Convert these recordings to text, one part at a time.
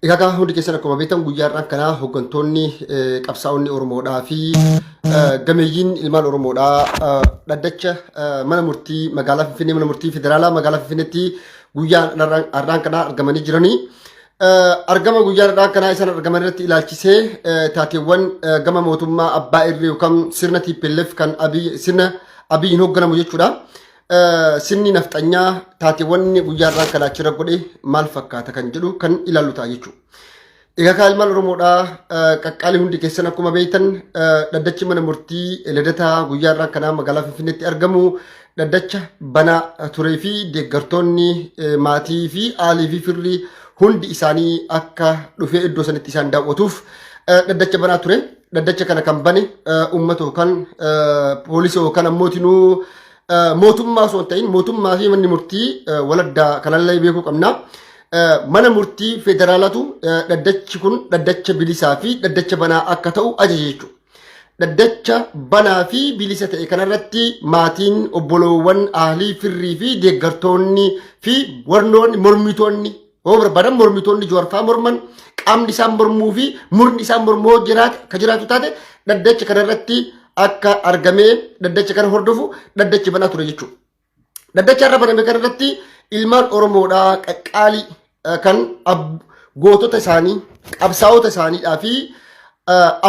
Egaa kaa hundi keessan akkuma beektan guyyaa har'aan kanaa hooggantoonni qabsaa'onni Oromoodhaa fi gameeyyiin ilmaan Oromoodhaa dhaddacha mana murtii magaalaa Finfinnee mana murtii federaalaa magaalaa Finfinneetti guyyaa har'aan kanaa argamanii jiranii. Argama guyyaa har'aan kanaa isaan argaman irratti ilaalchisee taateewwan gama mootummaa abbaa irree yookaan sirna TPLF kan sirna abiyyiin hoogganamu jechuudha. Sirni nafxanyaa taateewwan guyyaa irraa kan achirra godhe maal fakkaata kan jedhu kan ilaallu ta'a jechuudha. Egaa kaa ilmaan Oromoodhaa qaqqaalii hundi keessan akkuma beektan dhaddachi mana murtii lidataa guyyaa irraa kanaa magaalaa Finfinneetti argamu dhaddacha banaa turee fi deeggartoonni maatii fi aalii fi firri hundi isaanii akka dhufee iddoo sanitti isaan daawwatuuf dhaddacha banaa ture. dhaddacha kana kan bane uummata yookaan poolisii yookaan ammootinuu mootummaa osoo hin ta'in mootummaa fi manni murtii waladdaa kanallee beekuu qabna. Mana murtii federaalatu dhaddachi kun dhaddacha bilisaa fi dhaddacha banaa akka ta'u ajaje jechuudha. Dhaddacha banaa fi bilisa ta'e kanarratti maatiin obboloowwan ahlii firrii fi deeggartoonni fi warnoonni mormitoonni Yoo barbaadan mormitoonni Jawaarfaa morman qaamni isaan mormuu fi murni isaan mormuu yoo jiraate ka jiraatu taate dhaddacha kana irratti akka argamee dhaddacha kana hordofu dhaddachi banaa ture jechuudha. Dhaddacha irra baname kana irratti ilmaan Oromoodhaa qaqqaalii eh, kan ab- gootota isaanii qabsaa'ota isaaniidhaa fi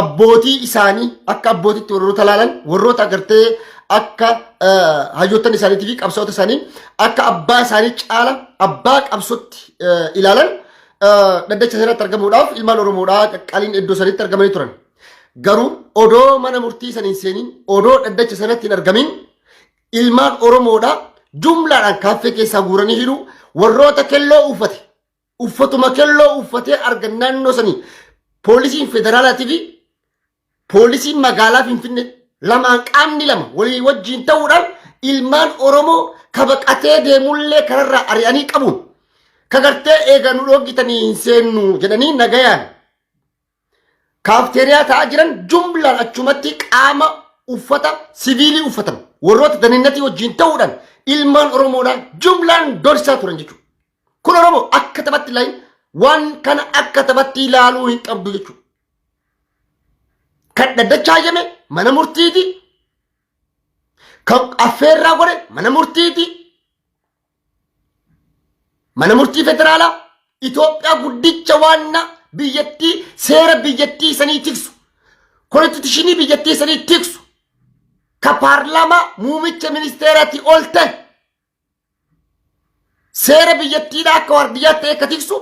abbootii isaanii akka abbootitti warroota laalan warroota agartee akka hayyoottan isaaniitii fi qabsoota isaanii akka abbaa isaanii caala abbaa qabsotti ilaalan dhaddacha seeratti argamuudhaaf ilmaan Oromoodhaa qaqqaaliin iddoo sanitti argamanii turan. Garuu odoo mana murtii saniin seeniin odoo dhaddacha sanatti hin argamin ilmaan Oromoodhaa jumlaadhaan kaaffee keessaa guuranii hidhuu warroota kelloo uffate Uffatuma kelloo uffatee argan naannoo sanii poolisiin federaalaatii fi poolisiin magaalaa Finfinnee lamaan qaamni lama walii wajjiin ta'uudhaan ilmaan Oromoo kabaqatee deemullee kanarraa ari'anii qabuun kagartee eega nu dhoogitanii hin seennu jedhanii nagayaan kaafteeriyaa ta'aa jiran jumlaan achumatti qaama uffata siviilii uffatan warroota daninnatii wajjin ta'uudhaan ilmaan Oromoodhaan jumlaan dorsisaa turan jechuudha. Kun Oromoo akka taphatti ilaalu waan kana akka taphatti ilaaluu hin qabdu jechuudha. Kan dhaddachaa jeme mana murtiiti. Kan affeerraa godhe mana murtiiti. Mana murtii federaalaa Itoophiyaa guddicha waanna biyyattii seera biyyattii sanii tiksu. Konstituushinii biyyattii sanii tiksu. Ka paarlaamaa muumicha ministeeraatii ol ta'e. Seera biyyattiidhaa akka waardiyyaa ta'e akka tiksu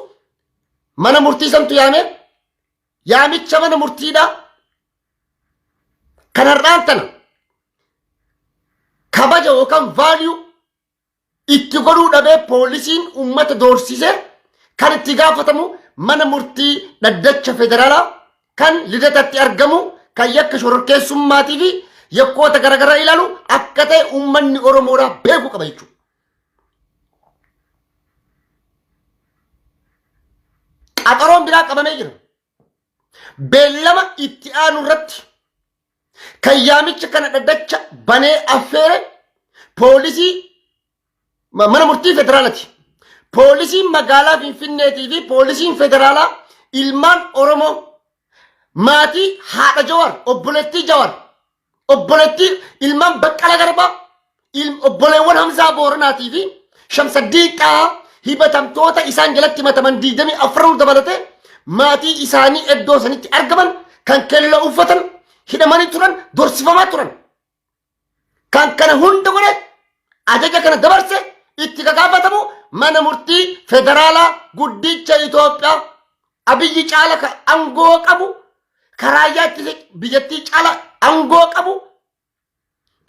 mana murtii santu yaame yaamicha mana murtiidhaa kan har'aan tana kabaja yookaan vaaliyuu itti godhuu dhabee poolisiin uummata doorsise kan itti gaafatamu mana murtii dhaddacha federaalaa kan lidatatti argamu kan yakka shororkeessummaatii fi yakkoota garaagaraa ilaalu akka ta'e uummanni Oromoodhaa beekuu qaba jechuudha. Qaxaroon biraa qabamee jira. Beellama itti aanu irratti kan yaamicha kana dhaddacha banee affeere poolisii ma- mana murtii federaalati. Poolisiin magaalaa Finfinneetii fi poolisiin federaalaa ilmaan Oromoo maatii haadha Jawar, obboleettii Jawar, obboleettii ilmaan Baqqala Garbaa, ilm- obboleewwan Hamzaa Booranaatii fi Shamsaddiin Xahaa hibatamtoota isaan jalatti himataman 24 dabalatee maatii isaanii iddoo sanitti argaman kan kelloo uffatan hidhamanii turan dorsifamaa turan. Kan kana hunda godhe ajaja kana dabarse itti gagaafatamu mana murtii federaalaa guddicha Itoophiyaa abiyyi caala ka angoo qabu karaayyaa ittisa biyyattii caala angoo qabu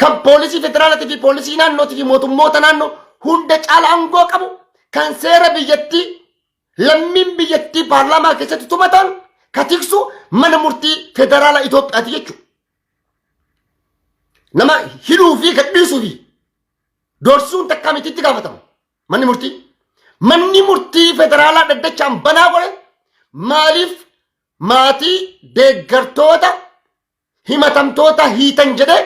kan poolisii federaalaatii fi poolisii naannootii fi mootummoota naannoo hunda caala aangoo qabu kan seera biyyattii lammiin biyyattii paarlaamaa keessatti tumataan ka tiksu mana murtii federaalaa Itoophiyaati jechuudha. Nama hidhuu fi gadhiisuu fi dorsuun takkaa miti itti gaafatama manni murtii. Manni murtii federaalaa dhaddachaan banaa godhe maaliif maatii deeggartoota himatamtoota hiitan jedhee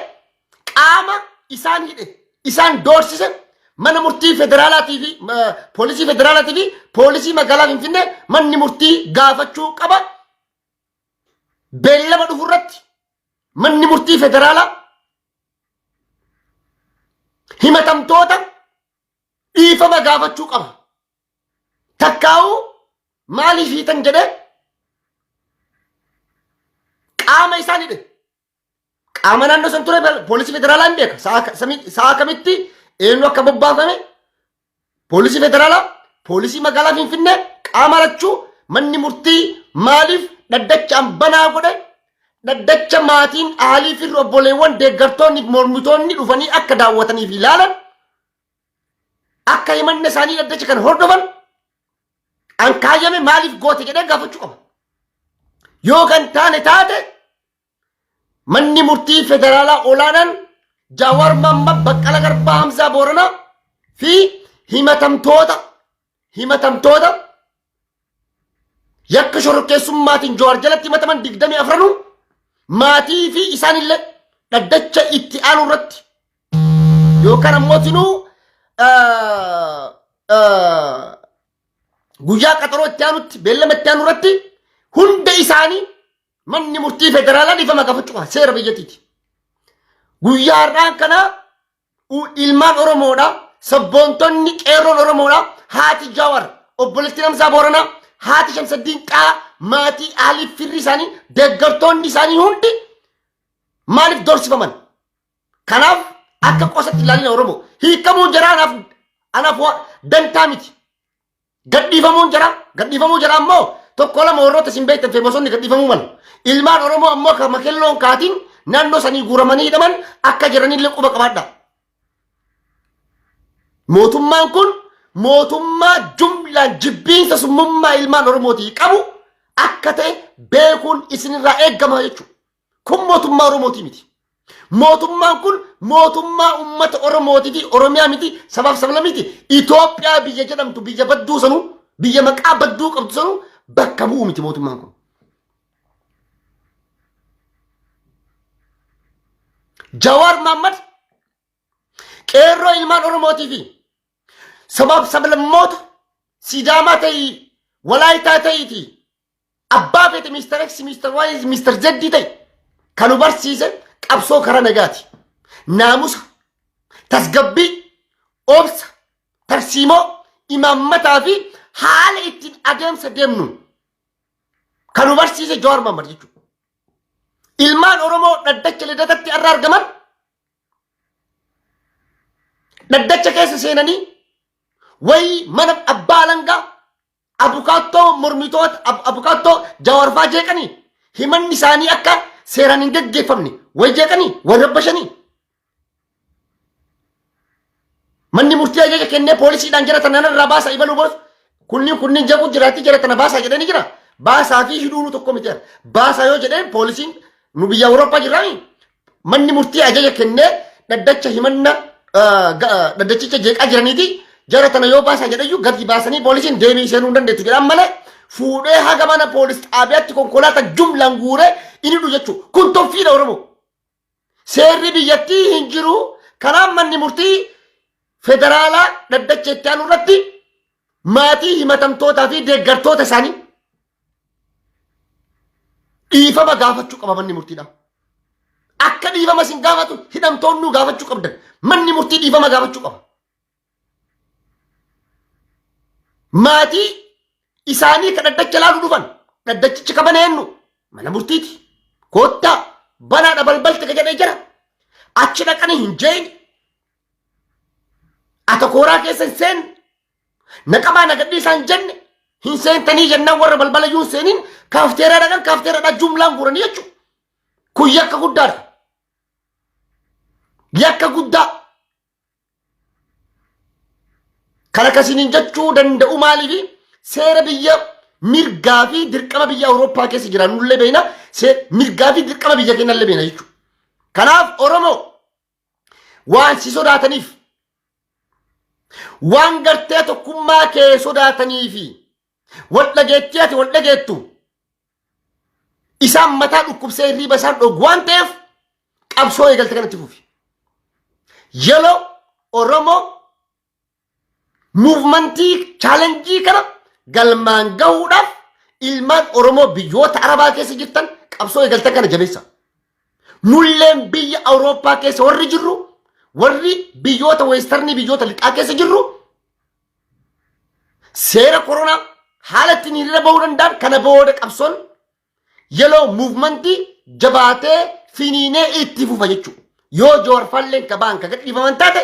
qaama isaan hidhe isaan doorsise mana murtii federaalaatii fi ma- poolisii federaalaatii fi poolisii magaalaa Finfinnee manni murtii gaafachuu qaba. Beellama dhufu irratti manni murtii federaalaa himatamtoota dhiifama gaafachuu qaba. Takkaa'uu maaliif hiitan jedhee qaama isaan hidhe. Qaama naannoo san ture bal- poolisii federaalaa hin beeka. Sa'a ka- sami- Sa'a kamitti eenyu akka bobbaafame poolisii federaalaa, poolisii magaalaa Finfinnee qaama lachuu manni murtii maaliif dhaddachaan banaa godhe dhaddacha maatiin aalii fi obboleewwan deeggartoonni fi mormitoonni dhufanii akka daawwatanii fi ilaalan Akka himanna isaanii dhaddacha kan hordofan an kaayyame maaliif goote jedhee gaafachuu qaba. Yoo kan taane taate manni murtii federaalaa olaanaan Jawaar Mohaammed Baqqala Garbaa Hamzaa Booranaa fi himatamtoota himatamtoota yakka shororkeessummaatiin Jawaar jalatti himataman digdamii afranuu maatii fi isaanillee dhaddacha itti aanu irratti yookaan ammoo tinuu ah, ah, guyyaa qaxaroo itti aanutti beellama itti aanu irratti hunda isaanii manni murtii federaalaa dhiifama gaafachuu qaba seera biyyattiiti. Guyyaa har'aan kana U- ilmaan Oromoodha. Sabboontonni qeerroon Oromoodha. Haati Jawar obboleettiin Hamzaa Booranaa haati Shamsaddiin Qaa maatii Alii firri isaanii deeggartoonni isaanii hundi maaliif dorsifaman? Kanaaf akka qosatti ilaalina Oromoo hiikamuu jaraa anaaf anaaf waa dantaa miti. Gadhiifamuun jara gadhiifamuu jara ammoo tokko lama warroota isin beektan fi bosonni gadhiifamuu malu. Ilmaan Oromoo ammoo akka makelloon kaatiin naannoo sanii guuramanii hidhaman akka jiranillee quba qabaadha. Mootummaan kun mootummaa jumlaan jibbiinsa summummaa ilmaan Oromootii qabu akka ta'e beekuun isinirraa eegama jechuudha. Kun mootummaa Oromootii miti. Mootummaan kun mootummaa uummata Oromootii fi Oromiyaa miti sabaaf sablamiti Itoophiyaa biyya jedhamtu biyya badduu sanuu biyya maqaa badduu qabdu sanuu bakka bu'u miti mootummaan kun. Jawaar Maammad qeerroo ilmaan Oromootii fi sabaaf sablammoota Sidaamaa ta'ii Walaayitaa ta'iitii Abbaa feete Mr. X, Mr. Y, Mr. Z ta'e kan nu barsiise qabsoo karaa nagaati. Naamusa, tasgabbii, obsa, tarsiimoo, imaammataa fi haala ittiin adeemsa deemnu kan nu barsiise Jawaar Mohaammed jechuudha. Ilmaan Oromoo dhaddacha lidatatti irra argaman dhaddacha keessa seenanii wayii mana abbaa alangaa Abukaattoo mormitoota ab- abukaattoo jawarfaa jeeqanii himanni isaanii akka seeraan hin gaggeeffamne way jeeqanii way rabbashanii manni murtii ajaja kennee poolisiidhaan jara tana irraa baasaa ibaluu boos kunniin kunniin jaquu jiraatti jara tana baasaa jedhanii jira baasaa fi hidhuunu tokko miti baasaa yoo jedheen poolisiin nu biyya awurooppaa jirraami Manni murtii ajaja kennee dhaddacha himanna ah, ga- ah, dhaddachicha jeeqaa jiraniiti jara tana yoo baasan jedhayyuu gadi baasanii poolisiin deebii seenuu hin dandeetti jedhan malee fuudhee haga mana poolis xaabiyaatti konkolaataa jumlaan guuree inni dhufu jechuudha. Kun toffiidha Oromoo. Seerri biyyattii hin jiru. Kanaaf manni murtii federaalaa dhaddacha itti aanu irratti maatii himatamtootaa fi deeggartoota isaanii dhiifama gaafachuu qaba manni murtiidha. Akka dhiifama isin gaafatu hidhamtoonnuu gaafachuu qabdan manni murtii dhiifama gaafachuu qaba. Maatii isaanii kan dhaddacha ilaaluu dhufan dhaddachichi kan bane eenyu mana murtiiti. Koottaa banaadha balbalti ka jedhee jira. Achi dhaqanii hin jeeyin Atokooraa keessa hin seenne. Naqamaa nagadhii isaan jenne hin seentanii jennaan warra balbala iyyuu hin seeniin kaafteeraa dhaqan kaafteeraa dhaqan jumlaan guuranii jechuudha. Kun yakka guddaadha. Yakka guddaa. Kan akkasiin jechuu danda'u maaliifi seera biyya mirgaa fi dirqama biyya Awurooppaa keessa jiran nullee beekna mirgaa fi dirqama biyya keenya illee beekna jechuudha. Kanaaf Oromoo waan si sodaataniif waan gartee tokkummaa kee sodaatanii fi wal dhageettii ati wal dhageettu isaan mataa dhukkubsee hirriiba isaan dhoogu waan ta'eef qabsoo eegalte kanatti fufi. Yeloo Oromoo Muuvmantii chaalenjii kana galmaan gahuudhaaf ilmaan Oromoo biyyoota Arabaa keessa jirtan qabsoo eegaltan kana jabeessa. Nulleen biyya Awurooppaa keessa warri jirru warri biyyoota weestarnii biyyoota lixaa keessa jirru seera koronaa haala ittiin hiriira bahuu danda'an kana booda qabsoon Yeloo muuvmantii jabaatee finiinee itti fufa jechuudha. Yoo Jowaar Falleen ka ba'an ka gadhiifaman taate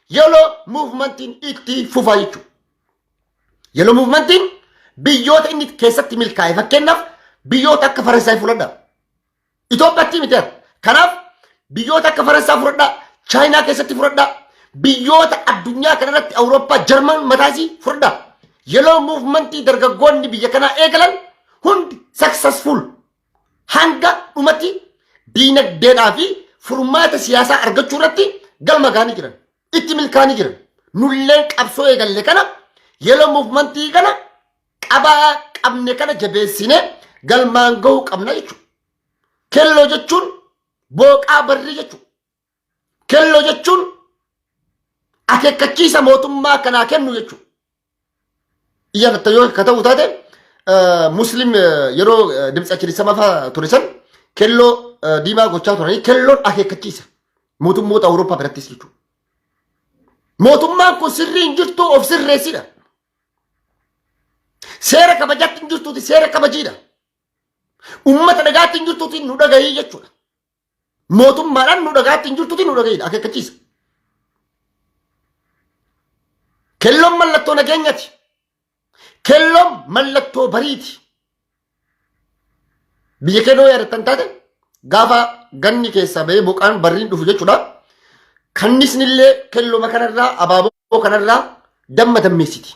yeloo muuvmantiin itti fufa jechuudha. Yeloo muuvmantiin biyyoota inni keessatti milkaa'e fakkeenyaaf biyyoota akka Faransaay fudhadha. Itoophiyaatti miti ati. Kanaaf biyyoota akka Faransaa fudhadha, Chaayinaa keessatti fudhadha, biyyoota addunyaa kanarratti Awurooppaa, Jarman mataasii fudhadha. Yeloo muuvmantii dargaggoonni biyya kanaa eegalan hundi successful hanga dhumatti diinagdeedhaa fi furmaata siyaasaa argachuu irratti galma gaanii jiran itti milkaanii jiran nulleen qabsoo eegalle kana yeroo muuvmantii kana qabaa qabne kana jabeessine galmaan gahuu qabna jechuudha. Kelloo jechuun booqaa barrii jechuudha. Kelloo jechuun akeekkachiisa mootummaa kanaa kennu jechuudha. Iyya akka yoo akka ta'u taate eh, muslim eh, yeroo eh, dimtsa kirisama fa'aa ture san kelloo eh, diimaa gochaa turanii kelloon akeekkachiisa mootummoota Awurooppaa birattis jechuudha. Mootummaan kun sirrii hin jirtu of sirreessidha. Seera kabajaatti hin jirtuuti seera kabajiidha. Uummata dhagaatti hin jirtuuti nu dhagahii jechuudha. Mootummaadhaan nu dhagaatti hin jirtuti nu dhagaidha akeekkachiisa. Kelloon mallattoo nageenyati. Kelloon mallattoo bariiti. Biyya kee yoo yaadattan taate gaafa ganni keessaa ba'ee boqaan barriin dhufu jechuudha. Kannisnillee kellooma kanarraa abaaboo kanarraa damma dammeessiti.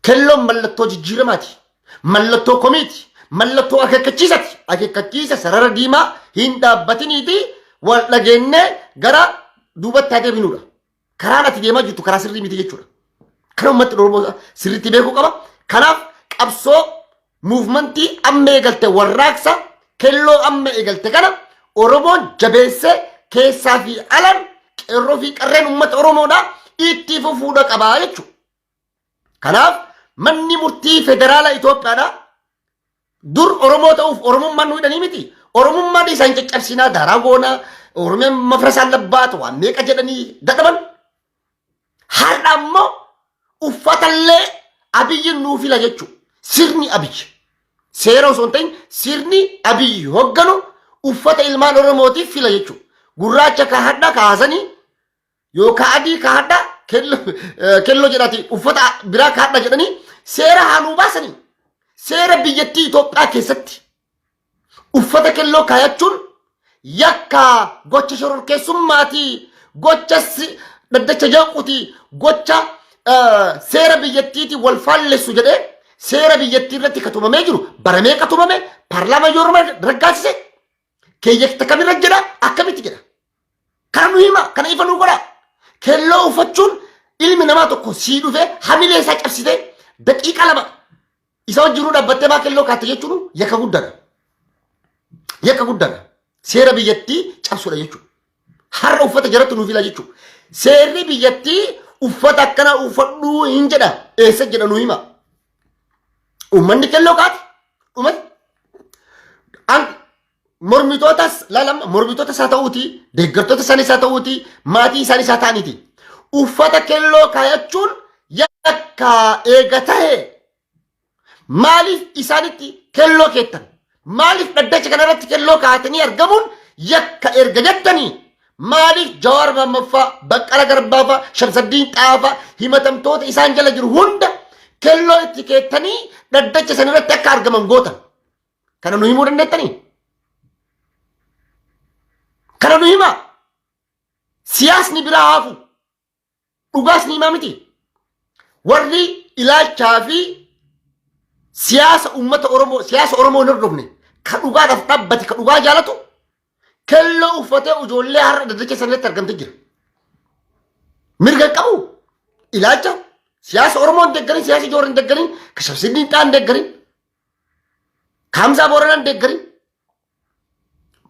Kelloon mallattoo jijjiiramaati. Mallattoo komiiti. Mallattoo akeekkachiisati. Akeekkachiisa sarara diimaa hin dhaabbatiniiti wal dhageennee gara duubatti haa deebinuudha. Karaan ati deemaa jirtu karaa sirrii miti jechuudha. Kana uummatni Oromoo sirriitti beekuu qaba. Kanaaf qabsoo Muuvmantii amma eegalte warraaqsa kelloo amma eegalte kana Oromoon jabeessee keessaa fi alan qeerroo fi qarreen uummata Oromoodha itti fufuudha qabaa jechuudha. Kanaaf manni murtii federaalaa Itoophiyaadha. Dur Oromoo ta'uuf Oromummaan nu hidhanii miti. Oromummaan isaan caccabsinaa daaraa goonaa Oromiyaan mafrasaan labbaata waan meeqa jedhanii dadhaban. Har'a immoo uffatallee abiyyi nuu fila jechuu sirni abiyyi seera osoo hin ta'in sirni abiyyi hogganu uffata ilmaan oromootiif fila jechuu gurraacha ka hadha kaasanii yookaan adii ka hadha kello jedhati uffata biraa ka hadha jedhanii seera haaluu baasanii seera biyyattii Itoophiyaa keessatti uffata kelloo kaayachuun yakkaa gocha shororkeessummaati gocha si- dhaddacha jeequuti gocha eh, seera biyyattiiti wal faallessu jedhee seera biyyattii irratti ka tumamee jiru baramee ka tumame paarlaamaa yoo raggaasise keeyyata kamirra jedha akkamitti jedha Kana nu hima, kana ifa nu godha. Kelloo uffachuun ilmi namaa tokko sii dhufee hamilee isaa cabsitee daqiiqa lama isa wajjinuu dhaabbattee maa kelloo kaatte jechuun yakka guddaadha. Yakka guddaadha. Seera biyyattii cabsuudha jechuudha. Har'a uffata jaratti nuuf ila jechuudha. Seerri biyyattii uffata akkanaa uffadhuu hin jedha. Eessa jedha nu hima. Uummanni kelloo kaate dhumatti. An mormitootas laalama mormitoota isaa ta'uuti deeggartoota isaanii isaa ta'uuti maatii isaanii isaa ta'aniiti uffata kelloo kaayachuun yakka eega ta'e maaliif isaanitti kelloo keettan maaliif dhaddacha kanarratti kelloo kaa'atanii argamuun yakka erga jettanii maaliif jawaar mammaffaa baqqala garbaafaa shamsaddiin xaafaa himatamtoota isaan jala jiru hunda kelloo itti keettanii dhaddacha sanirratti akka argaman gootan Kana nu himuu dandeettanii? Kana nu himaa? Siyaasni biraa hafu. Dhugaas ni himaa miti. Warri ilaalchaa fi siyaasa uummata Oromoo, siyaasa Oromoo hin hordofne, ka dhugaadhaaf dhaabbate, ka dhugaa jaalatu, kelloo uffatee ijoollee har'a daddacha sanatti argamtee jira. Mirga hin qabu. Ilaalcha siyaasa Oromoo hin deeggarin, siyaasa Joor hin deeggarin, ka Shamsiddin Xaa hin deeggarin, Hamzaa Booranaan deeggarin.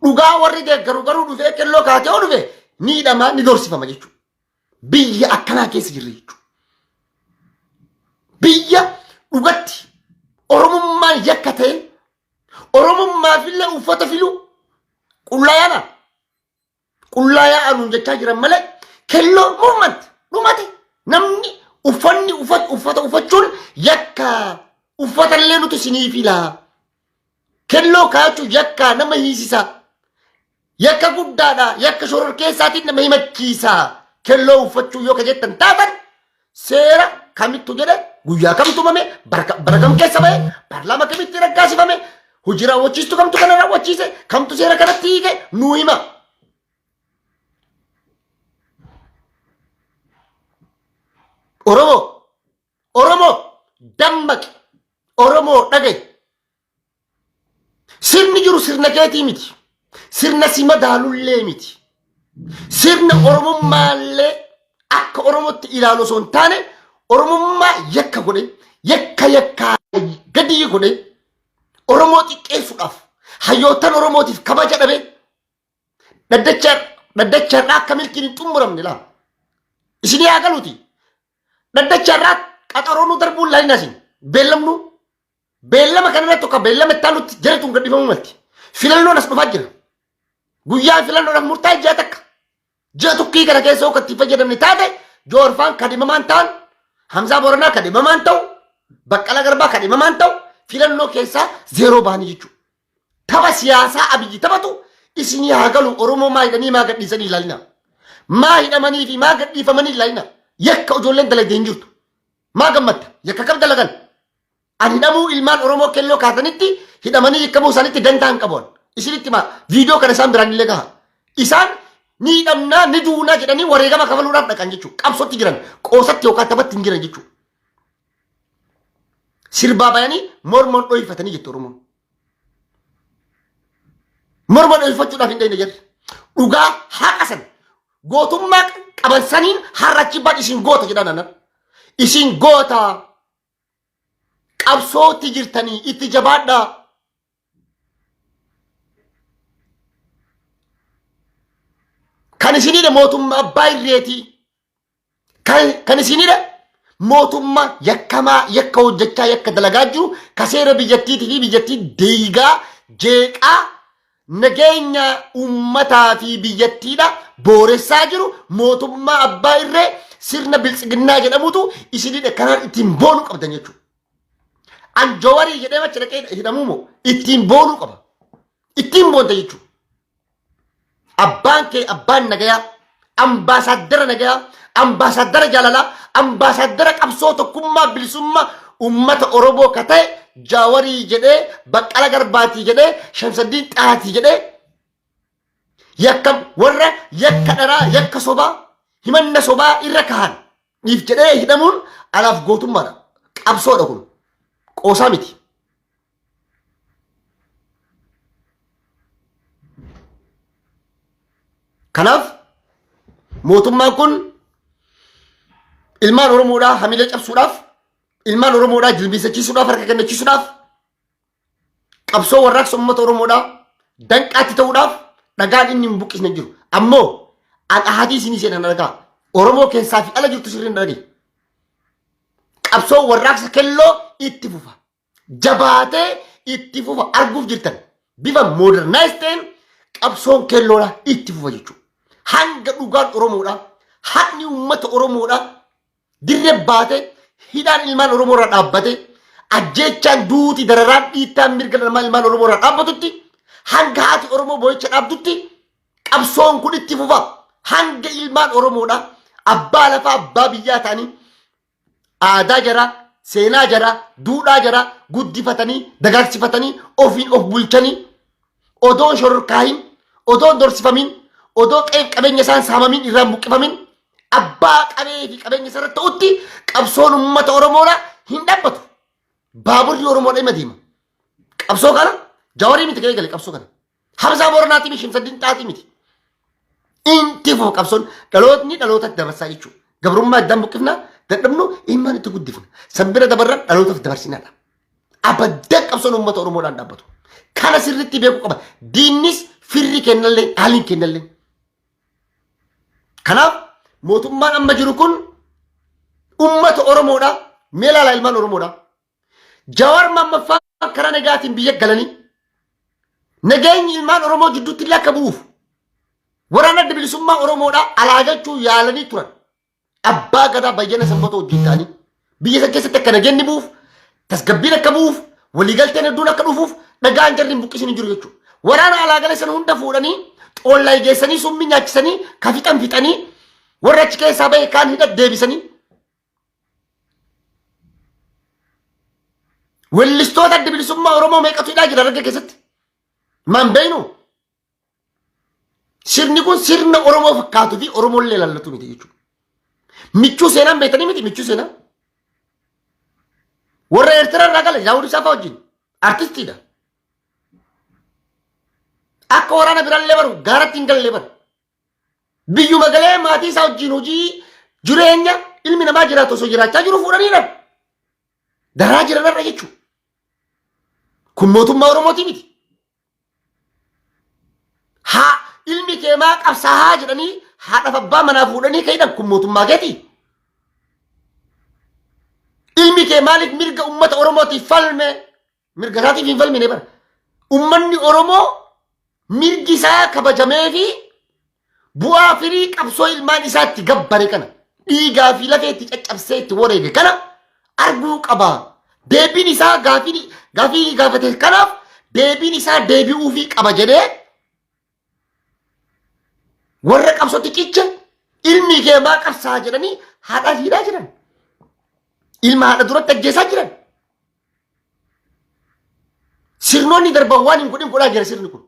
Dhugaa warri deeggaru garuu dhufee qelloo kaatee yoo dhufe miidhamaa ni doorsifama jechuudha. Biyya akkanaa keessa jirra jechuudha. Biyya dhugatti Oromummaan yakka ta'e Oromummaafillee uffata filuu qullaa yaana. qullaa yaa'aa nuun jechaa jiran malee kelloo movement dhumate namni uffanni uffat- uffata uffachuun yakka uffatallee nuti sinii filaa kelloo kaachuun yakka nama hiisisa yakka guddaadha yakka shoror keessaatiin nama himachiisa kelloo uffachuu yoo ka jettan taatan seera kamittu jedhe guyyaa kam tumame bara ka- bara kam keessa ba'e paarlaama kamitti raggaasifame hojii raawwachiistu kamtu kana raawwachiise kamtu seera kanatti hiike nuu hima. Oromoo Oromoo dammaqi Oromoo dhaga'i Sirni jiru sirna keetii miti. Sirna si madaalullee miti. Sirna Oromummaallee akka Oromootti ilaalu osoo hin taane Oromummaa yakka godhe, yakka yakkaa gadii godhe Oromoo xiqqeessuudhaaf hayyootan Oromootiif kabaja dhabe dhaddacharraa akka milkiin hin xumuramne laa. Isin yaa galuuti. Dhaddacharraa qaxaroonuu darbuun laalina isin. Beellamnuu Beellama kanarratti tokko beellama itti aanutti jara tun gadhiifamuu malti. Filannoon as dhufaa jira. Guyyaan filannoodhaaf murtaa'e ji'a takka. Ji'a tokkii kana keessa akka itti fayyadamne taate joorfaan kadhimamaan ta'an Hamzaa Booranaa kadhimamaan ta'u Baqqalaa Garbaa kadhimamaan ta'u filannoo keessaa zeeroo bahanii jechuudha. Tapha siyaasaa abiyyi taphatu isinii haa galu Oromoo maa hidhanii maa gadhiisanii ilaalina. Maa hidhamanii fi maa gadhiifamanii ilaalina. Yakka ijoolleen dalagdee hin jirtu. Maa gammadda? Yakka kam dalagan? An hidhamuu ilmaan Oromoo kelloo kaasanitti hidhamanii yakkamuu isaanitti dantaa hin qabu. Isinitti maa viidiyoo kana isaan biraan illee gaha. Isaan ni hidhamnaa ni duunaa jedhanii wareegama kafaluudhaaf dhaqan jechuudha. Qabsootti jiran qoosatti yookaan taphatti hin jiran jechuudha. Sirbaa bayanii mormoon dhohifatanii jettu Oromoon. Morma dhohifachuudhaaf hin dhayne jedhe. Dhugaa haqa san gootummaa qaban saniin har'a achi baan isin goota jedhan anan. Isin goota qabsootti jirtanii itti jabaadhaa. Kan isinidha mootummaa abbaa irreetii. Kan kan isinidha mootummaa yakkamaa yakka hojjechaa yakka dalagaa jiru ka seera biyyattiitii fi biyyattii deegaa jeeqaa nageenya uummataa fi biyyattiidha booressaa jiru mootummaa abbaa irree sirna biltsiginnaa jedhamutu isinidha kanaan ittiin boonu qabdan jechuudha. An jawarii jedhee macha dhaqee hidhamuu moo ittiin boonuu qaba. Ittiin boonta jechuudha. Abbaan kee abbaan nagayaa ambaasaaddara nagayaa, ambaasaaddara jaalalaa, ambaasaaddara qabsoo tokkummaa bilisummaa uummata Oromoo ka ta'e Jaawarii jedhee, Baqqala Garbaatii jedhee, Shamsaddiin Xahaatii jedhee yakka warra yakka dharaa, yakka sobaa, himanna sobaa irra kahan Dhiif jedhee hidhamuun anaaf gootummaadha. Qabsoodha kun. Qoosaa miti. Kanaaf mootummaan kun ilmaan Oromoodhaa hamilee cabsuudhaaf, ilmaan Oromoodhaa jilbiisachiisuudhaaf, harka kennachiisuudhaaf qabsoo warraaqsa uummata Oromoodhaa danqaatti ta'uudhaaf dhagaan inni hin buqqisne jiru. Ammoo an ahadii isinii seenan argaa Oromoo keessaa fi ala jirtu sirriin dhagee. Qabsoo warraaqsa kelloo itti fufa. Jabaatee itti fufa arguuf jirtan bifa modernize ta'een qabsoon kelloodhaa itti fufa jechuudha. Hanga dhugaan Oromoodhaa haqni uummata Oromoodhaa dirre baate hidhaan ilmaan Oromoo irra dhaabbate ajjeechaan duuti dararaan dhiittaan mirga dhala ilmaan Oromoo irra dhaabbatutti hanga haati Oromoo boo'icha dhaabdutti qabsoon kun itti fufa hanga ilmaan Oromoodha abbaa lafaa abbaa biyyaa ta'anii aadaa jaraa seenaa jaraa duudhaa jaraa guddifatanii dagaagsifatanii ofiin of bulchanii odoo hin shororkaahin, odoo hin dorsifamin, odoo qe'eef qabeenya isaan saamamin irraan buqqifamin abbaa qabee fi qabeenya isaa irratti ta'utti qabsoon uummata Oromoodha hin dhaabbatu. Baaburri Oromoodha ima deema. Qabsoo kana jawarii miti kan eegale qabsoo kana. Hamzaa Booranaatii fi Shimsaddiin Xaaxii miti. Inti fuma qabsoon dhalootni dhalootatti dabarsaa jechuudha. Gabrummaa iddaan buqqifna dadhabnu ilmaan itti guddifna. San bira dabarra dhalootaaf dabarsinadha. Abaddan qabsoon uummata Oromoodhaan dhaabbatu. Kana sirriitti beekuu qaba. Diinnis firri kennallee haaliin kennallee. Kanaaf mootummaan amma jiru kun uummata Oromoodha. Mee ilaala ilmaan Oromoodha. Jawaar Maammaffaa karaa nagaatiin biyya galanii nageenyi ilmaan Oromoo jidduutti illee akka bu'uuf waraana adda bilisummaa Oromoodhaa alaa galchuu yaalanii turan. Abbaa gadaa bayyana sanbatoo wajjin ta'anii biyya san keessatti akka nageenyi bu'uuf tasgabbiin akka bu'uuf waliigalteen hedduun akka dhufuuf dhagaan jarri hin buqqisin hin jiru jechuudha. Waraana alaa galee sana hunda fuudhanii xoollaa geessanii summii nyaachisanii ka fixan fixanii warra achi keessaa bahe kaan hidha deebisanii Wellistoota adda bilisummaa Oromoo meeqatu hidhaa jira Harargee keessatti? Maan beeknu? Sirni kun sirna Oromoo fakkaatuu fi Oromoollee ilaallatu miti jechuudha. Michuu seenaan beektanii miti michuu seenaa. Warra Eertiraa irraa gala Daawud Isaafaa wajjin artistiidha. Akka waraana biraallee baru gaaratti hin gallee baru. Biyyuma galee maatii isaa wajjin hojii jireenya ilmi namaa jiraatu osoo jiraachaa jiru fuudhanii dha. Daraa jiran irra jechuudha. Kun mootummaa Oromooti miti. Haa ilmi kee maa qabsaahaa jedhanii haadhaaf abbaa manaa fuudhanii ka'idhan kun mootummaa keeti. Ilmi kee maaliif mirga uummata Oromootiif falme Mirga isaatiif hin falmine bara. Ummanni Oromoo mirgi isaa kabajamee fi bu'aa firii qabsoo ilmaan isaatti gabbare kana dhiigaa fi lafee itti caccabsee itti wareege kana arguu qaba. Deebiin isaa gaafii gaafii gaafate kanaaf deebiin isaa deebi'uu fi qaba jedhee Warra qabsootti cicha ilmi kee maa qabsaa jedhanii haadhaa fi hidhaa jiran. Ilma haadha duratti ajjeesaa jiran. Sirnoonni darban waan hin godhin godhaa jira sirni kun.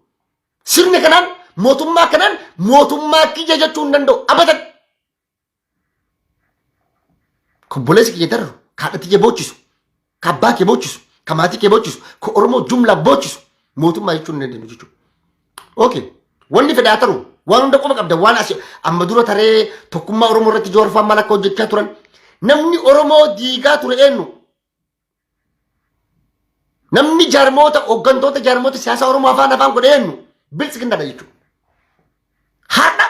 Sirni kanaan mootummaa kanaan mootummaa kiyya jechuu hin danda'u. Abadan. Kobboleessi kiyya darru kaadhatti kee boochisu, ka abbaa kee boochisu, ka maatii kee boochisu, ka Oromoo jumlaa boochisu mootummaa jechuun hin dandeenyu jechuudha. Okay. Wanni fedhaa taru waan hunda qofa qabda waan asi amma dura taree tokkummaa Oromoo irratti joorfaan maal akka hojjechaa turan namni Oromoo diigaa ture eenyu Namni jaarmoota hooggantoota jaarmoota siyaasaa Oromoo afaan afaan godhe eenyu biltsiginnaadha jechuudha. Har'a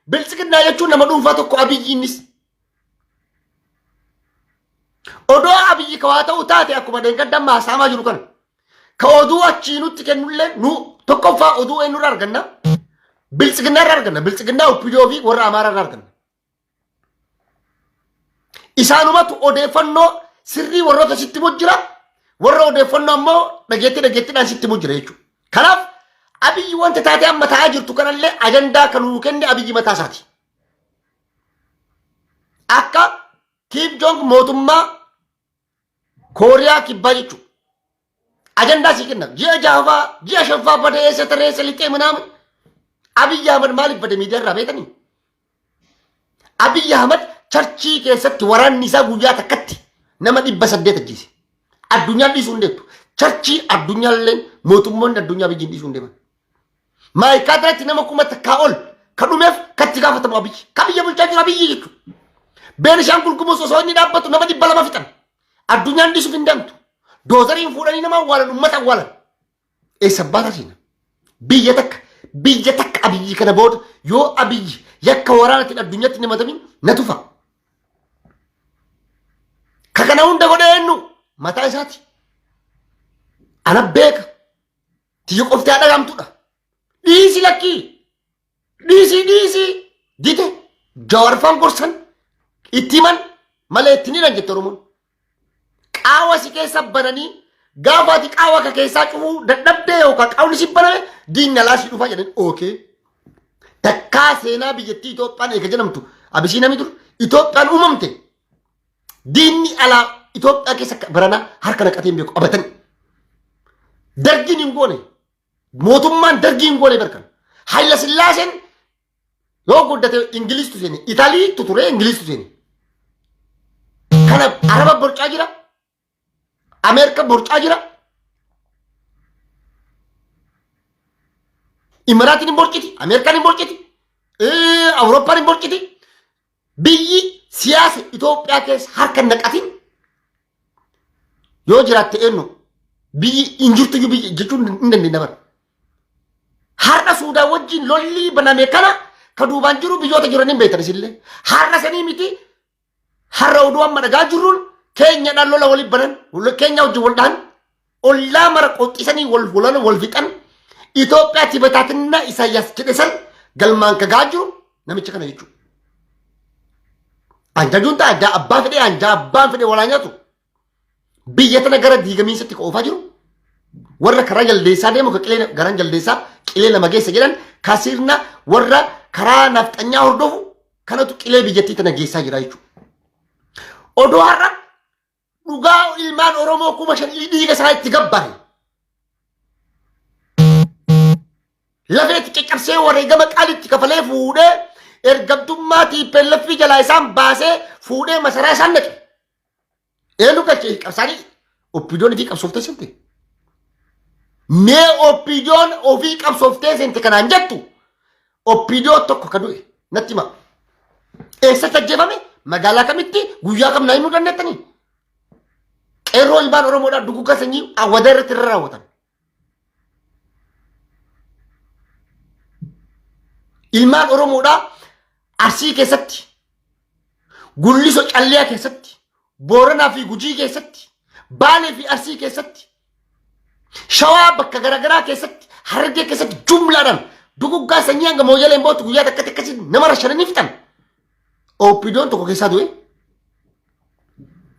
biltsiginnaa jechuun nama dhuunfaa tokko abiyyiinis. Odoo abiyyi kawaa ta'uu taate akkuma dheengadda amma haasaamaa jiru kana. Ka oduu achii nutti kennullee nu tokkoffaa oduu eenyurra arganna. Biltsiginnaa irra arganna. Biltsiginnaa Oppidoo fi warra Amaaraa irra arganna. Isaanumatu odeeffannoo sirrii warroota sitti himu jira. Warra odeeffannoo ammoo dhageetti dhageettidhaan sitti himu jira jechuudha. Kanaaf abiyyi wanta taatee amma ta'aa jirtu kanallee ajandaa kan nuu kenne abiyyi mataa isaati. Akka Kiim Joong mootummaa Kooriyaa kibbaa jechuudha. Ajandaa sii kenna. Ji'a jaafaa, ji'a shanfaa badee eessa taree eessa lixee manaama. Abiyyi Ahmad maaliif bade miidiyaa irraa beekanii? Abiyyi Ahmad charchii keessatti waraanni isaa guyyaa takkatti nama dhibba saddeet ajjeese. Addunyaan dhiisuu hin deemtu. Charchii addunyaalleen mootummoonni addunyaa biyyiin dhiisuu hin deeman. Maayikaa irratti nama kuma takkaa ol ka dhumeef katti gaafatamu abiyyi. Ka biyya bulchaa jiru abiyyi jechuudha. Beenishaangul Gumuz osoo inni dhaabbatu nama dhibba lama fixan. Addunyaan dhiisuuf hin dantu. Doozariin fuudhanii nama awwaalan uummata awwaalan. Eessa abbaa taasiina? Biyya takka biyya takka abiyyi kana booda yoo abiyyi yakka waraanatiin addunyaatti hin himatamin na tufa. Ka kana hunda godhe eenyu mataa isaati. Ana beeka. Tiyya qofti haa dhagamtudha. Dhiisi lakkii. Dhiisii dhiisii dide jawarfan gorsan itti himan malee itti hinan jette Oromoon. Qaawa si keessa bananii gaafa ati qaawa ka keessaa cufuu dadhabdee yookaan qaawni si baname diinni alaa si dhufa jedhan ookee. Takkaa seenaa biyyattii Itoophiyaan eega jedhamtu Abisiinami dur Itoophiyaan uumamte diinni alaa Itoophiyaa keessa baranaa harka naqatee hin beeku abatanii. Dargiin hin goone Mootummaan dargii hin goone barkan. Hayila Sillaaseen yoo guddate Ingiliistu seene. Italiitu ture Ingiliistu seene. Kana Araba borcaa jira. Ameerika borcaa jira. Imaraatiin hin borciti. Ameerikaan hin borciti. Awurooppaan hin borciti. Biyyi siyaasa Itoophiyaa keessa harka hin naqatin yoo jiraatte eenyu biyyi hin jirtu iyyuu biyya jechuun hin dandeenya bara. Har'a Suudaan wajjin lolli baname kana ka duubaan jiru biyyoota jiran hin beektan isillee. Har'a sanii miti har'a oduu amma dhagaa jirruun keenyadhaan lola waliin banan keenya wajjin wal dhahan ollaa mara qoxxisanii wal holana wal fixan Itoophiyaa tibataatinna Isaayyaas jedhe san galmaan kagaa jiru namicha kana jechuudha. Anjajuun ta'a anjaa abbaa fedhee anjaa abbaan fedhee walaa nyaatu biyya tana gara diigamiinsatti ka oofaa jiru warra karaa jaldeessaa deemu ka qilee garaan jaldeessaa qilee lama geessa jedhan ka sirna warra karaa nafxanyaa hordofu kanatu qilee biyyattii tana geessaa jira jechuudha. Odoo har'a dhugaa ilmaan Oromoo kuma shan dhiiga isaa itti gabbare. Lafeetti caccabsee wareegama qaalitti kafalee fuudhee ergamtummaa tiippeellaffii jalaa isaan baasee fuudhee masaraa isaan naqe. Eenyu galchee qabsaanii oppiidoon fi qabsooftee sente. Mee oppiidoon ofii qabsooftee sente kanaan jettu Oppiidoo tokko ka du'e natti hima. Eessatti ajjeefame? Magaalaa kamitti? Guyyaa kam naa himuu dandeettanii? Qeerroo ilmaan Oromoodhaa duguggaa sanyii awwadaa irratti irra raawwatan. Ilmaan Oromoodhaa Arsii keessatti, Gulliso Calliyaa keessatti, Booranaa fi Gujii keessatti, Baalee fi Arsii keessatti, Shawaa bakka garaagaraa keessatti, Harargee keessatti jumlaadhaan duguggaa sanyii hanga mooyyaleen bootu guyyaa takkatti akkasii nama rashananii fixan. OPDOn tokko keessaa du'e.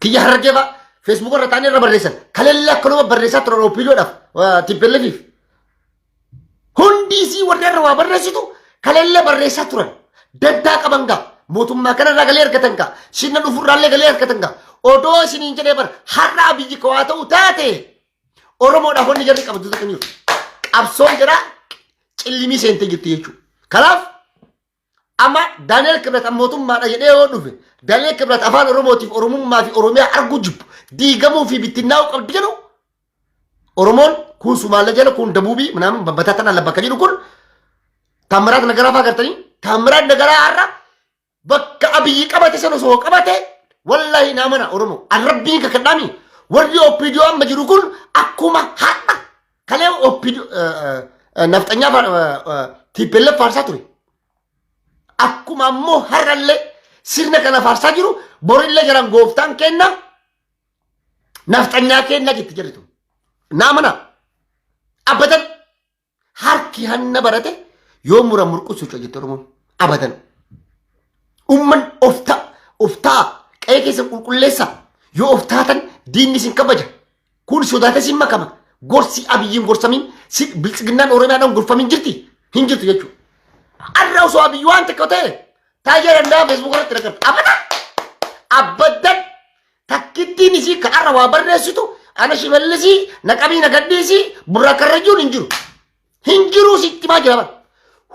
Kiyya Harargee fa'a Facebook irra taa'anii irra barreessan. Kaleellee akkanuma barreessaa turan OPDOdhaaf TPLFiif. Hundi isii warri irra waa barreessitu kaleellee barreessaa turan. Dantaa qaban gaa mootummaa kanarraa galee argatan gaa sirna dhufurraallee galee argatan gaa odoo isiniin jedhee bara har'aa biyyi koo haa ta'u taate Oromoodhaaf wanni jarri qabdu takka hin jiru. Qabsoon jira cillimii seentee jirti jechuudha. Kanaaf Amma Daani'el Kibrat an mootummaadha jedhee yoo dhufe Daani'el Kibrat afaan Oromootiif Oromummaa fi Oromiyaa arguu jibbu diigamuu fi bittinnaa'uu qabdi jedhu Oromoon kun Sumaalee jala kun Dabuubii minaamin babbataa tana labba akka jedhu kun Taammiraat Nagaraa fa'aa gartanii Taammiraat Nagaraa har'a bakka abiyyi qabate san osoo qabate wallahi naa mana Oromoo an rabbiin kakadhaami warri OPDO amma jiru kun akkuma har'a Kalee oppido nafxanyaa tiippellee faarsaa ture. Akkuma ammoo har'allee sirna kana faarsaa jiru borillee jiran gooftaan kenna nafxanyaa kenna jetti jedhitu. Naa mana abadan harki hanna barate yoo mura murqusu jetti Oromoon abadan. Umman oftaa oftaa qe'ee keessa qulqulleessa yoo oftaatan diinni isin kabaja Kun sodaatee siin makama. Gorsi abiyyiin gorsamin si- biltsiginnaan oromiyaadhaan gorfamin jirti hin jirtu jechuudha. Arra osoo abiyyi waan tokko ta'e taayyaa danda'a feesbuuk irratti nagarta. Abada! Abaddan takkittiin isii ka arra waa barreessitu ana shimallisii naqabii nagadhiisii burraa karrajuun hin jiru. Hin jiru sitti maa jira bara.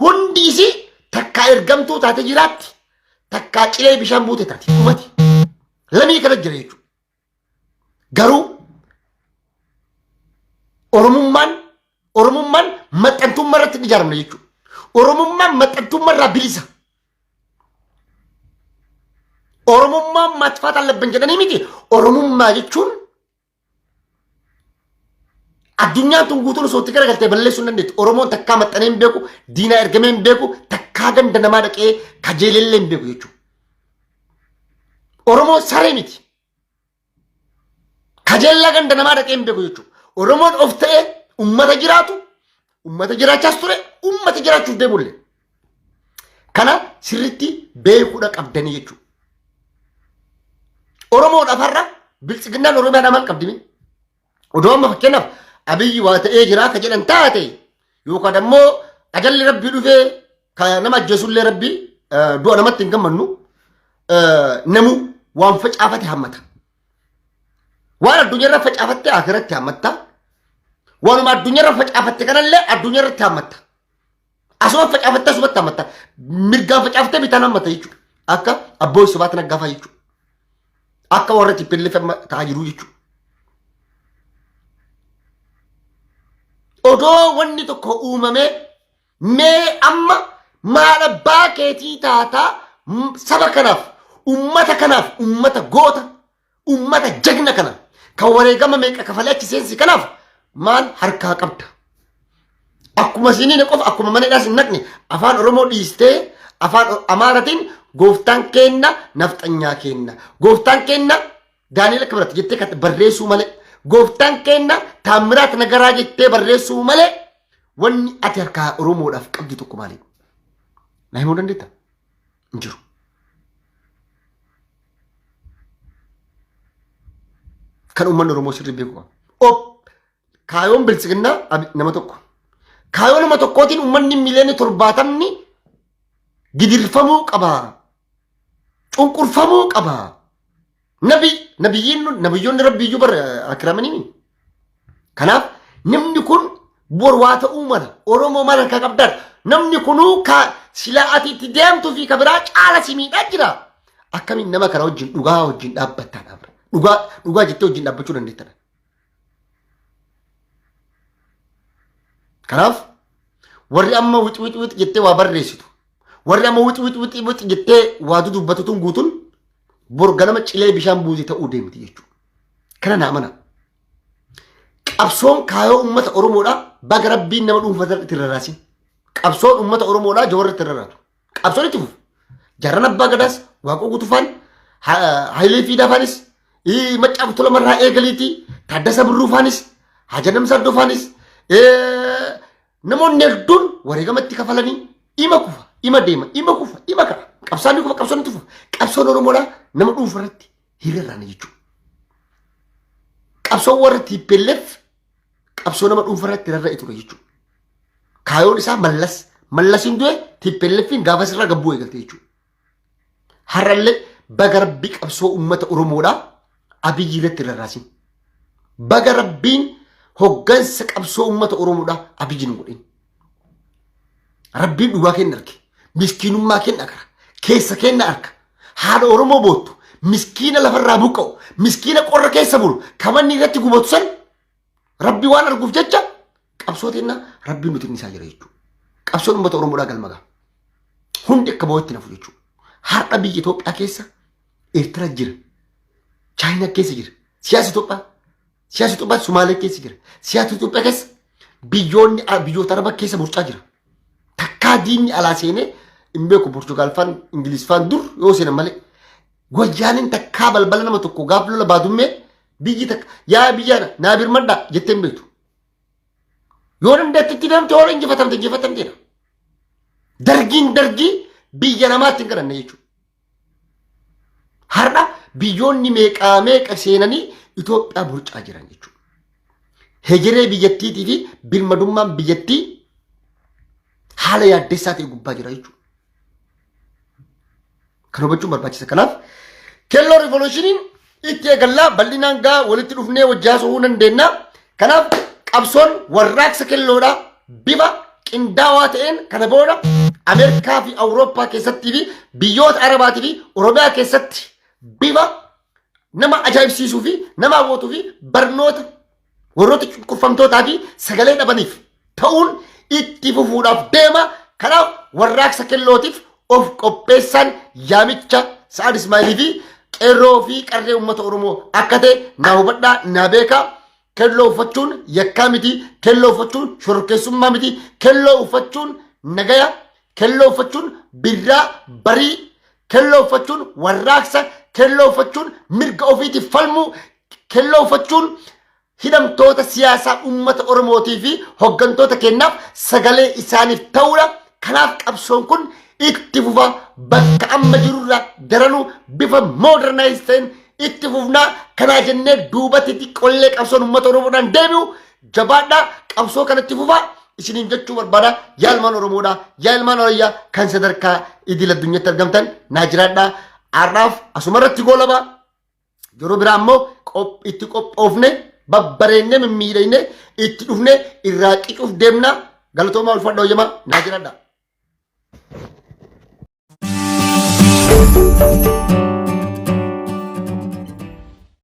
Hundi isii takkaa ergamtuu taate jiraatti takkaa cilee bishaan buute taate dhumati. Lamii kana jira jechuudha. Garuu Oromummaan Oromummaan maxxantummaa irratti hin ijaaramne jechuudha. Oromummaan maxxantummaa irraa bilisa. Oromummaan matfaata labban jedhanii miti. Oromummaa jechuun Addunyaan tun guutuun osoo itti garagaltee balleessuu hin dandeettu. Oromoon takkaa maxxanee hin beeku, diinaa ergamee hin beeku, takkaa ganda namaa dhaqee kajeelellee hin beeku jechuudha. Oromoon saree miti. Kajeellaa ganda namaa dhaqee hin beeku jechuudha. Oromoon of ta'ee uummata jiraatu Uummata jiraachaas ture, uummata jiraachuuf deemulle. Kana sirriitti beekuudha qabdanii jechuudha. Oromoon afarra biltsiginnaan Oromiyaadhaa maal qabdimi? Odoo amma fakkeenyaaf abiyyi waa ta'ee jiraa ka jedhan taate yookaan ammoo ajalli rabbii dhufee ka nama ajjeesullee rabbii du'a namatti hin gammannu namuu waan facaafate hammata. Waan addunyaarra facaafatte akiratti hammatta. Waanuma addunyaarra facaafatte kanallee addunyaarratti hammatta. Asuma facaafatte asumatti hammatta. Mirgaan facaafatte bitaan hammatta jechuudha. Akka abbootii sobaatiin aggaafaa jechuudha. Akka warra tippillee amma ta'aa jiru jechuudha. Odoo wanni tokko uumamee Mee amma maal abbaa keetii taataa m- saba kanaaf, ummata kanaaf, ummata goota, ummata jagna kana kan wareegama meeqa kafalee achi seensi kanaaf maal harkaa qabda? Akkuma siniin qofa akkuma mana hidhaas hin naqne afaan Oromoo dhiistee afaan O- Amaaratiin gooftaan keenna nafxanyaa keenna. Gooftaan keenna Daani'el akka biraatti jettee kan barreessuu malee gooftaan keenna taammiraat nagaraa jettee barreessuu malee wanni ati harkaa Oromoodhaaf qabdu tokko maali? Na himuu dandeetta? Hin jiru. Kan uummanni Oromoo sirrii beeku qaba. Op Kaayoon biltsiginnaa abi- nama tokko. Kaayoo nama tokkootiin uummanni miliyoonni torbaatamni gidirfamuu qaba. Cunqurfamuu qaba. Nabi, nabiyyiin, nabiyyoonni rabbiyyuu bar akiramanii. Kanaaf namni kun bor waa ta'uu mala. Oromoo mala kan qabdan. Namni kunuu ka silaa ati itti deemtuu fi ka biraa caala si miidhaa jira. Akkamiin nama kana wajjin dhugaa wajjin dhaabbattaa dhaabra. Dhugaa, dhugaa jettee wajjin dhaabbachuu dandeettadha. Kanaaf warri amma wix wix wix jettee waa barreessitu warri amma wix wix wix wix jettee waa dudubbatu tun guutuun bor ganama cilee bishaan buusii ta'uu deemti jechuudha. Kana naa mana. Qabsoon kaayoo uummata Oromoodhaa baga rabbiin nama dhuunfaa irratti irra raasin. Qabsoon uummata Oromoodhaa jawarra irratti irra raatu. Qabsoon itti fufa. Jarran abbaa gadaas waaqoo gutufaan hayilee fi daafaanis maccaaf tolamarraa eegaliitii taaddasa birruufaanis hajanam saddoofaanis namoonni hedduun wareegama itti kafalanii ima kufa ima deema ima kufa ima ka'a qabsaan ni kufa qabsoon itti fufa qabsoon oromoodhaa nama dhuunfa irratti hiriirraana jechuudha. Qabsoon warra tiippelleef qabsoo nama dhuunfa irratti rarra'e ture jechuudha. Kaayoon isaa mallas mallasiin du'e tippelleffiin gaafas irraa gabbuu eegalte jechuudha. Har'allee baga rabbi qabsoo uummata Oromoodhaa abiyyi irratti rarraasin. Baga rabbiin hoggansa qabsoo uummata Oromoodhaa abiyyi nu godhin. Rabbiin dhugaa kenna arge. Miskiinummaa kenna gara. Keessa kenna arka. Haadha Oromoo boottu. Miskiina lafarraa buqqa'u. Miskiina qorra keessa bulu. Kamanni irratti gubatu san rabbi waan arguuf jecha qabsoo teenna rabbiin nuti isaa jira jechuudha. Qabsoon uummata Oromoodhaa galma ga'a. Hundi akka boo'etti nafu jechuudha. Har'a biyya Itoophiyaa keessa Eertira jira. Chaayina keessa jira. Siyaasa Itoophiyaa Siyaasa Itoophiyaa Sumaalee keessa jira. Siyaasa Itoophiyaa keessa biyyoonni biyyoota araba keessa burcaa jira. Takkaa diinni alaa seenee hin beeku Poorchugaal faan Ingiliz faan dur yoo seenan malee. Wayyaaniin takkaa balbala nama tokko gaaf lola baadummee biyyi takka yaa biyya naa birmadhaa jettee hin beektu. Yoo dandeetti itti deemte yoo injifatamte injifatamteedha. Dargiin dargii biyya namaatti hin kadhanne jechuudha. Har'a biyyoonni meeqaa meeqa seenanii Itoophiyaa burcaa jiran jechuudha. Hegeree biyyattiitii fi birmadummaan biyyattii haala yaaddessaa ta'e gubbaa jira jechuudha. Kan hubachuun barbaachisa. Kanaaf kelloo riivolushiniin itti eegallaa bal'inaan gaa walitti dhufnee wajji haasa'uu dandeenya. Kanaaf qabsoon warraaqsa kelloodha bifa qindaawaa ta'een kana booda Ameerikaa fi Awurooppaa keessattii fi biyyoota Arabaatii fi Oromiyaa keessatti bifa nama ajaa'ibsiisuu fi nama hawwatuu fi barnoota warroota cunqurfamtootaa fi sagalee dhabaniif ta'uun itti fufuudhaaf deema. Kanaaf warraaqsa kellootiif of qopheessaan yaamicha Sa'ad Ismaa'ilii fi qeerroo fi qarree uummata Oromoo akka ta'e naa hubadhaa naa beekaa. Kelloo uffachuun yakkaa miti. Kelloo uffachuun shororkeessummaa miti. Kelloo uffachuun nagaya. Kelloo uffachuun birraa barii Kelloo uffachuun warraaqsa, kelloo uffachuun mirga ofiitiif falmuu, kelloo uffachuun hidhamtoota siyaasaa uummata Oromootii fi hoggantoota keenyaaf sagalee isaaniif ta'uudha. Kanaaf qabsoon kun itti fufa bakka amma jirurra daranuu bifa modernize ta'een itti fufnaa kanaa jennee duubatti xiqqollee qabsoon uummata Oromoodhaan deebi'u Jabaadhaa qabsoo kanatti fufaa isiniin jechuu barbaada yaa ilmaan Oromoodhaa yaa ilmaan Arayyaa kan sadarkaa idil addunyaatti argamtan naa jiraadhaa har'aaf asuma irratti goolabaa yeroo biraa immoo qop- itti qophoofne babbareennee mimmiidhagne itti dhufne irraa qicuuf deemna galatoomaa ulfadha hoyyamaa naa jiraadha.